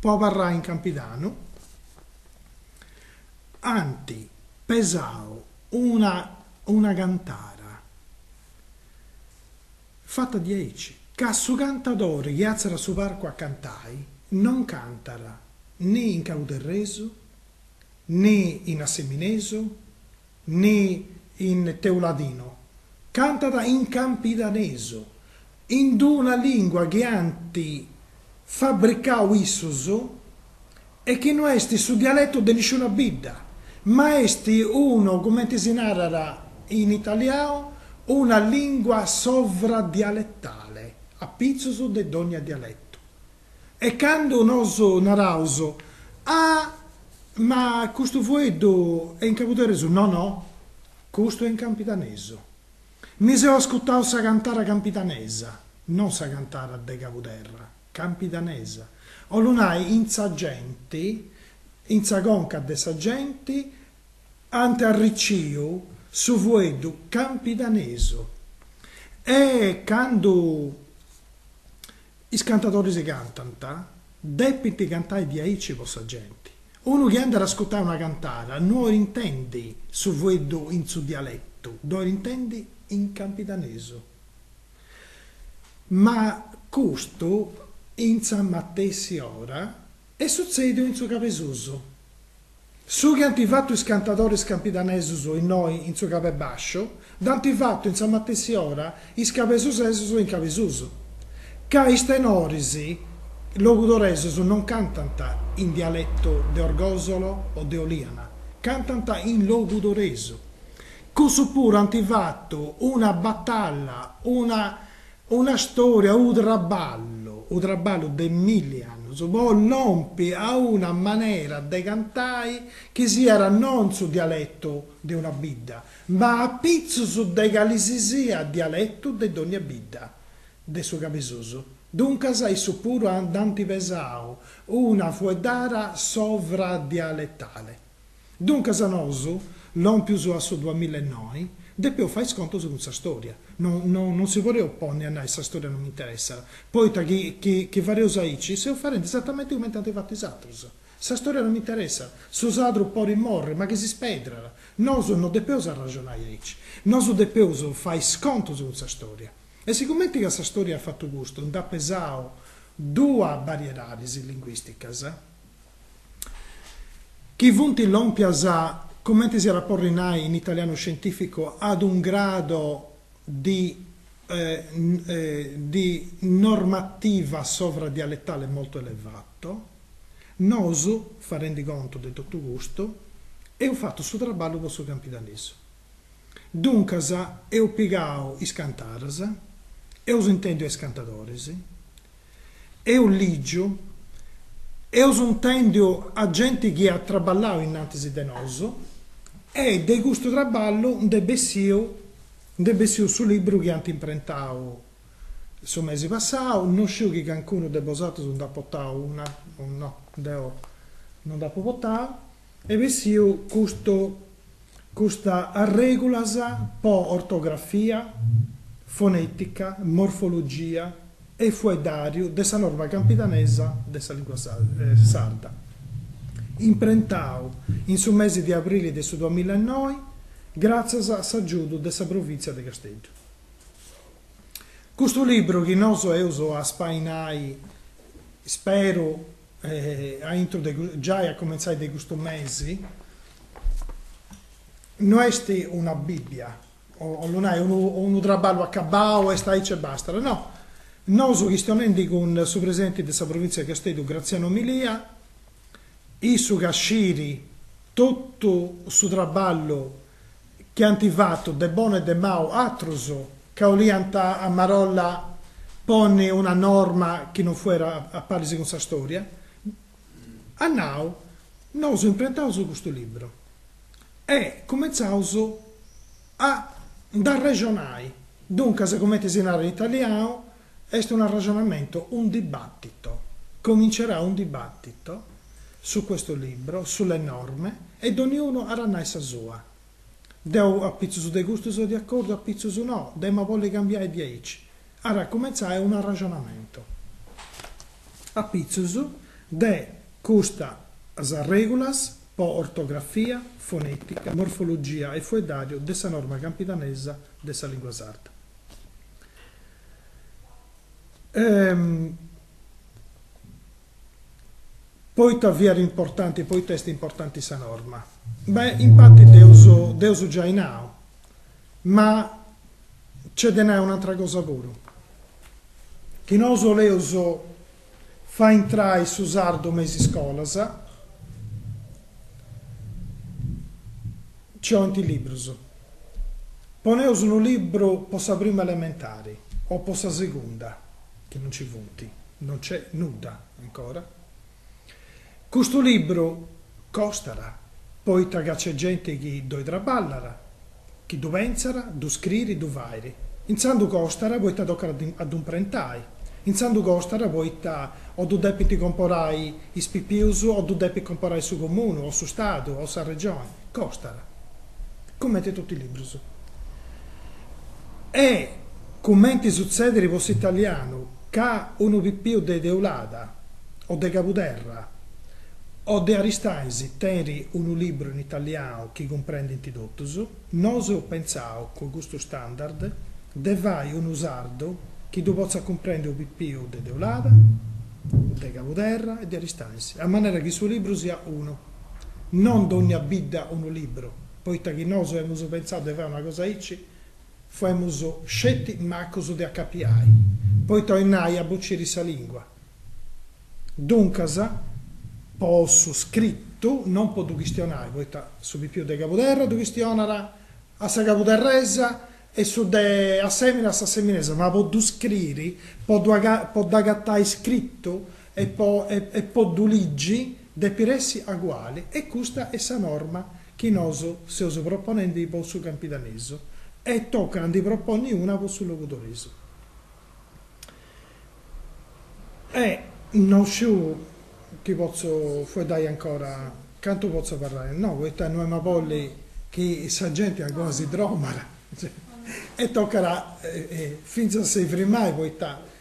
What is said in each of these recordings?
po abarrai in Campidanu ant pesau una una cantara fata diaici ca su cantadori chi àtziat a su parcu a cantai non cantat ne in Cauderresu ne in Asseminesu ni in teuladinu, cantat in campidanesu, in d-una lìngua chi ant fabricau issus e chi no est su dialetu de nisciuna bidda, ma est unu, cumenti si narat in italiau, una lìngua sovradialetale, apitzus de dònnia dialetu, E candu nosu naraus, Ah, ma custu fueddu est in cabuderresu, no, no, custu est in campidanesu. Mi seu ascutau sa cantara campidanesa, non sa cantara de Cabuderra, campidanesa, 'ollu nai in sa genti, in sa conca de sa genti, ant arriciu su fueddu campidanesu. E candu Is cantadoris cantant, depint cantai diaici po sa genti. Unu chi andat a ascutai una cantada no orit intendi su fueddu in su dialetu, dd'orit intendi in campidanesu. Ma custu in sa matessi ora. Est sutzèdiu in su Cabesusu. Su chi ant fatu is cantadoris campidanesus innoi in su Cabebasciu dd'ant fatu in sa matessi ora is cabesusesus in Cabesusu, ca is tenoris logudoresus non cantant in dialetu de Orgòsolo o de Oliana, cantant in logudoresu. Cussus puru ant fatu una batalla, una. Una stòria, unu traballu, unu traballu de milli annus po lompi a una manera de cantai chi siat non su dialetu de una bidda, ma apitzus de cali si siat dialetu de dònnia bidda de su cabesusu. Duncas issus puru nd'ant pesau una fueddara sovradialetale. Duncas nosu, lòmpius a su duamilla e noi, depeus fai is contus cun sa stòria. No no non si podeus ponni a nai sa stòria non m'interessat, poita chi chi chi fadeus aici seus fadendi esatamenti cumenti ant fatu is atrus. Sa stòria non m'interessat, su sadru podit morri ma chi si spedrat. Nosu no depeus arraxonai aici, nosu depeus fai is contus cun sa stòria. E sigumenti ca sa stòria at fatu custu, nd'at pesau duas bariedadis linguìsticas, Chi funt lòmpias, cumenti si nd'at a porri nai in italianu scientìficu, ad un grado di di normativa sovradialetale molto elevato, nosu, fadendi contu de totu custu, eus fatu su traballu po su campidanesu. Duncas eus pigau is cantadas, eus intendiu a is cantadoris, eus ligiu, eus intendiu a genti chi at traballau innantis de nosu e de custu traballu nd'est bessiu, nd'est bessiu su libru chi ant imprentau su mesi passau, no sciu chi cancunu de bosatrus nd'at portau unu o no, deu no nd'apu portau Est bessiu custu custa arrègulas po ortografia, fonètica, morfologia e fueddàriu de sa norma campidanesa de sa lìngua sarda, imprentau in su mesi de abrili de su duamilla e noi, gràtzias a s'agiudu de sa Provìntzia de Casteddu. Custu libru chi nosu eus a spainai, speru, aintru de giai a comentzai de custu mesi, no est una Bibbia, 'olit nai unu unu traballu acabau, est aici e bastat, no, nosu chistionendi cun su presidenti de sa Provintzia de Casteddu Graziano Milia, issu ca scit totu su traballu chi ant fatu de bonu e de mau atrus ca 'oliant a marolla ponni una norma chi non fuat a paris cun sa storia, at nau, Nosu imprentaus custu libru e cumentzaus a nd'arrexonai, duncas cumenti si narat in italianu, Est un arrexonamentu, un dibattito. Comincerà un dibattito su questo libro, sulle norme, e doniunu at a nai sa sua. Deu a pitzus de custu seu de acòrdiu, a pitzus no, dd'emu a bolli cambiai diaici. At a cumentzai un arrexonamentu a pitzus de custas arrègulas po ortografia, fonetica, morfologia e fueddariu de sa norma campidanesa de sa lingua sarda. Poita fiat importanti, poita est importanti sa norma? Beh, in parti dd'eus dd'eus giai nau, ma nc'est de nai un'atra cosa puru, chi nosu oleus Fai intrai su sardu me is iscolas. Nci 'olint is librus. Poneus unu libru po sa prima elementari o po sa segunda, chi no nci funt, no nc'est nudda ancora. Custu libru costat, poita ca nc'est genti chi ddoi traballat, chi ddu pentzat, ddu scririt, ddu fait. Intzandus costat poita tocat a ddu imprentai, intzandus costat poita o ddu depint comporai is pipius o ddu depit comporai su comunu o su Stadu o sa Regioni. Costat, cumenti totu is librus. E cumenti sutzedit po s'italianu. ca unu pipiu de Deulada o de Cabuderra o de Aristanis tenit unu libru in italianu chi cumprendint totus, nosu eus pentzau, cun custu standard, de fai unu sardu chi ddu potzat cumprendi unu pipiu de Deulada, de Cabuderra e de Aristanis, a manera chi su libru siat unu. Non dònnia bidda unu libru, poita chi nosu emus pentzau de fai una cosa aici, Fuemus sceti macus de acapiai, poita bolit nai a bociri sa lingua. Duncas, po su scritu, non po ddu chistionai, poita su pipiu de Cabuderra ddu chistionat a sa cabuderresa e su de Assèmini a s'asseminesa, ma po ddu scriri, po ddu po dd'agatai scritu e po e po ddu ligi, depit essi aguali e custa est sa norma. chi nosu seus proponendi po su campidanesu e tocat a ndi proponni una po su logudoresu. E non sciu chi potzu fueddai ancora, cantu potzu abarrai, no, poita no emu a bolli chi sa genti ancora si dromat e tocat fintzas a si frimai poita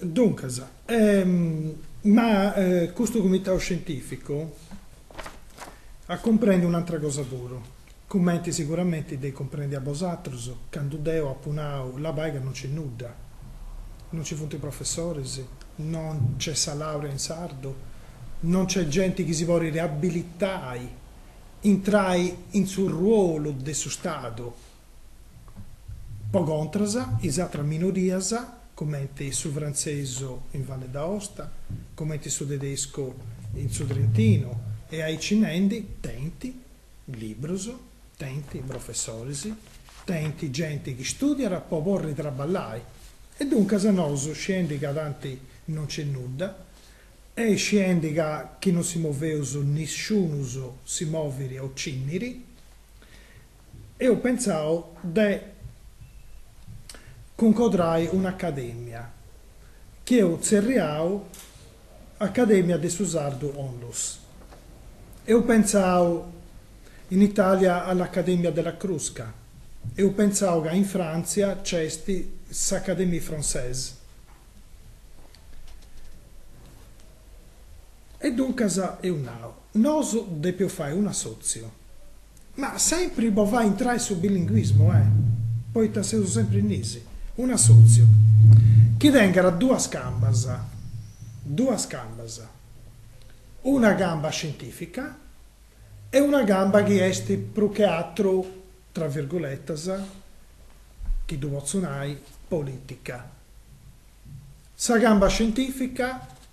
Duncas, ma custu Cumitau Scientìficu at cumprendiu un'antra cosa puru, cumenti siguramenti dd'eis cumprèndia bosatrus, candu deu apu nau, labai ca non nc'est nudda, non nci funt professoris, non nc'est sa làurea in sardu, non nc'est genti chi si podit abilitai intrai in su ruolu de su Stadu, Po contras, is atras minorias, cumenti su frantzesu in Valle d'Aosta, cumenti su tedescu in su Trentinu e aici nendi, tenint librus, tenint professoris, tenint genti chi stùdiat po porri traballai e duncas nosu, sciendi ca tanti non nc'est nudda e sciendi ca chi non si moveus nisciunus si movit o cinnit, Eo pentzau de cuncodrai un'academia, chi eo tzerriau Acadèmia de su Sardu Onlus. Eo pentzau in Italia all'Accademia della Crusca, eo pentzau ca in Frantzia nc'est s'Académie Française. E duncas eo nau. Nosu depeus fai un'assòtziu. Ma sempri po fai intrai su bilinguismu, eh. Poita seus sempri in is. Un'assòtziu. Chi tengada duas cambas. Duas cambas. Una camba scientìfica e una camba chi est prus che atru, tra virguletas, chi ddu potzu nai, polìtica. Sa camba scientìfica